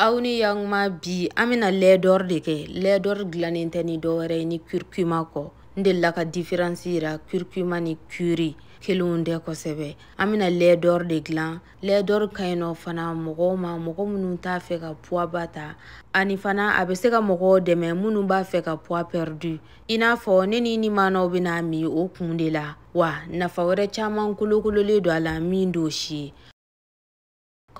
aw ni yakuma bi an bɛna lɛdɔri de kɛ lɛdɔri dilannen tɛ ni dɔwɛrɛ ye ni kurkuma kɔ n delila ka diferansi yira kurkuma ni kuri kelenw tɛ kosɛbɛ an bɛna lɛdɔri de dilan lɛdɔri ka ɲi nɔ fana mɔgɔw ma mɔgɔ minnu t'a fɛ ka puwaba ta ani fana a bɛ se ka mɔgɔw dɛmɛ minnu b'a fɛ ka puwa pɛridi i n'a fɔ ne ni nimanaw bɛna a min o kun de la wa nafa wɛrɛ caman kolokololen don a la min don si ye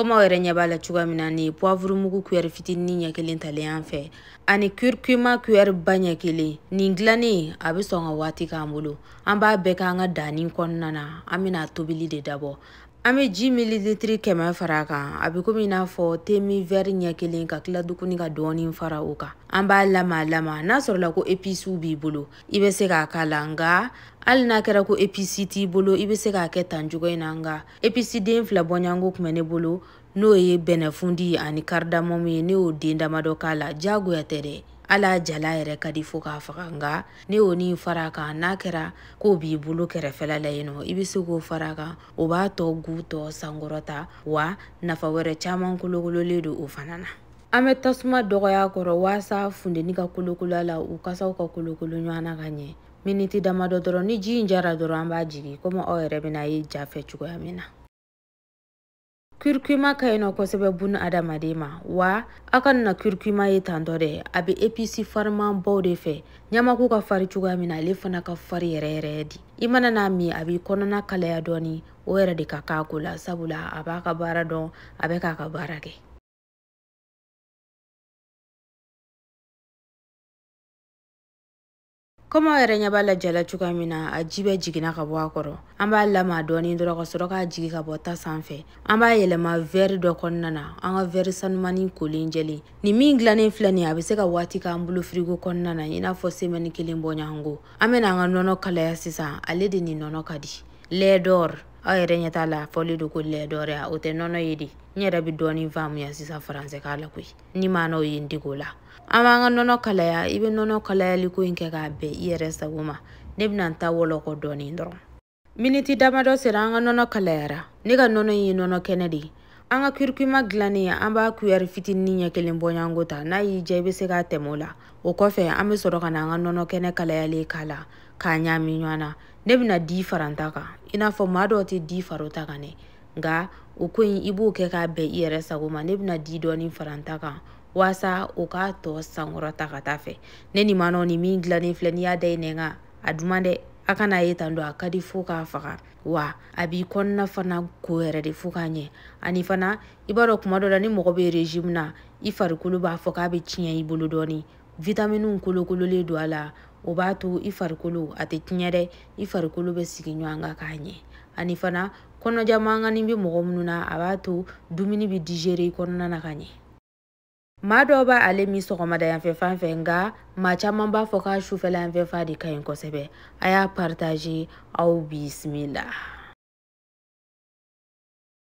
komi aw yɛrɛ ɲɛ b'a la cogoya min na nin ye puwavuru mugu kuyɛri fitinin ɲɛ kelen talen an fɛ ani kurkuma kuyɛri ba ɲɛ kelen nin dilannen a bɛ sɔn ka waati k'an bolo an b'a bɛɛ k'an ka daanin kɔnɔna na an bɛna tobili de dabɔ an bɛ ji mililitiri kɛmɛ fara a kan a bɛ komi i n'a fɔ temin vɛri ɲɛ kelen ka tila tuguni ka dɔɔnin fara o kan an b'a lama lama n'a sɔrɔla ko episiw b'i bolo i bɛ se k'a k'a la nka hali n'a kɛra ko episi t'i bolo i bɛ se k'a kɛ tan cogo in na nka episi den fila bɔɲanko tun bɛ ne bolo n'o ye bɛnɛfundi ye ani karidamɔmu ye ne y'o den damadɔ k'a la diyagoya tɛ dɛ hal'a jalan yɛrɛ ka di fo k'a faga nka ne y'o ni fara a kan n'a kɛra k'o b'i bolo kɛrɛfɛla la yen nɔ i bɛ se k'o fara a kan o b'a tɔ gu tɔ sankɔrɔta wa nafa wɛrɛ caman kolokololen don o fana na an bɛ tasuma dɔgɔya a kɔrɔ waasa funteni ka kolokolo a la u kasaw ka kolokolo ɲɔgɔn na ka ɲɛ miniti damadɔ dɔrɔn ni ji in jara dɔrɔn an b'a jigin komi aw yɛrɛ bɛna a ye ja fɛ cogoya min na kurkuma ka ɲi nɔ kosɛbɛ bunadamaden ma wa aw kana kurkuma ye tantɔ dɛ a bɛ episi farimanbaw de fɛ ɲamaku ka fari cogoya min na ale fana ka fari yɛrɛ yɛrɛ de i mana n'a min a b'i kɔnɔna kalaya dɔɔni o yɛrɛ de ka kan ko la sabula a b'a ka baara dɔn a bɛ k'a ka baara kɛ komi aw yɛrɛ ɲɛ b'a la ja la cogoya min na a ji bɛɛ jiginna ka bɔ a kɔrɔ an b'a lama dɔɔni dɔrɔn ka sɔrɔ k'a jigin ka bɔ ta sanfɛ an b'a yɛlɛma vɛri dɔ kɔnɔna na an ka vɛri sanumani kolen jɛlen nin min dilannen filɛ nin a bɛ se ka waati k'an bolo firigo kɔnɔna na i n'a fɔ semɛni kelen bɔɲɔgɔnko an bɛna an ka nɔnɔ kalaya sisan ale de ni nɔnɔ ka di lɛdɔr aw yɛrɛ ɲɛ t'a la a fɔlen don ko lɛdɔr ya o tɛ nɔnɔ ye de n yɛrɛ bɛ dɔɔni faamuya sisan faransɛkan la koyi nimanaw ye n dege o la an b'an ka nɔnɔ kalaya i bɛ nɔnɔ kalayali ko in kɛ k'a bɛn i yɛrɛ sago ma ne bɛna n ta wɔlɔkɔ dɔɔnin dɔrɔn miniti damadɔ sera an ka nɔnɔ kalayara ne ka nɔnɔ in ye nɔnɔ kɛnɛ de ye an ka kurkuma dilannen an b'a kuyɛri fitinin ɲɛ kelen bɔɲanko ta n'a y'i diya i bɛ se k'a tɛmɛ o la o kɔfɛ an bɛ sɔrɔ ka na an ka nɔnɔ kɛnɛ kalayalen k'a la k'a ɲaami ɲɔgɔn na ne bɛna di fara n ta kan i n'a fɔ maa dɔw tɛ di fara u ta kan dɛ nka o ko in i b'o kɛ k'a bɛn i yɛrɛ sago ma ne bɛna di dɔɔnin fara n ta kan waasa o k'a tɔ sankɔrɔta ka taa fɛ ne ni manɔ ni min dilannen filɛ n'i y'a da i nɛn kan a duman dɛ a kana ye tan don a ka di fo k'a faga wa a b'i kɔnɔna fana ko yɛrɛ de fo k'a ɲɛ ani fana i b'a dɔn kuma dɔ la ni mɔgɔ bɛ régime na i farikolo b'a fɔ k'a bɛ tiɲɛ i bolo dɔɔni vitaminiw kolokololen don a la o b'a to i farikolo a tɛ tiɲɛ dɛ i farikolo bɛ sigi ɲɔgɔn kan k'a ɲɛ ani fana kɔnɔja mankanni bɛ mɔgɔ minnu na a b'a to dumuni bɛ digérer i kɔnɔna na ka ɲɛ maa dɔw b'a ale min sɔgɔmada yanfɛ fan fɛ nka maa caman b'a fɔ k'a sufɛla yanfɛ fan de ka ɲi kosɛbɛ a y'a partager aw bisimila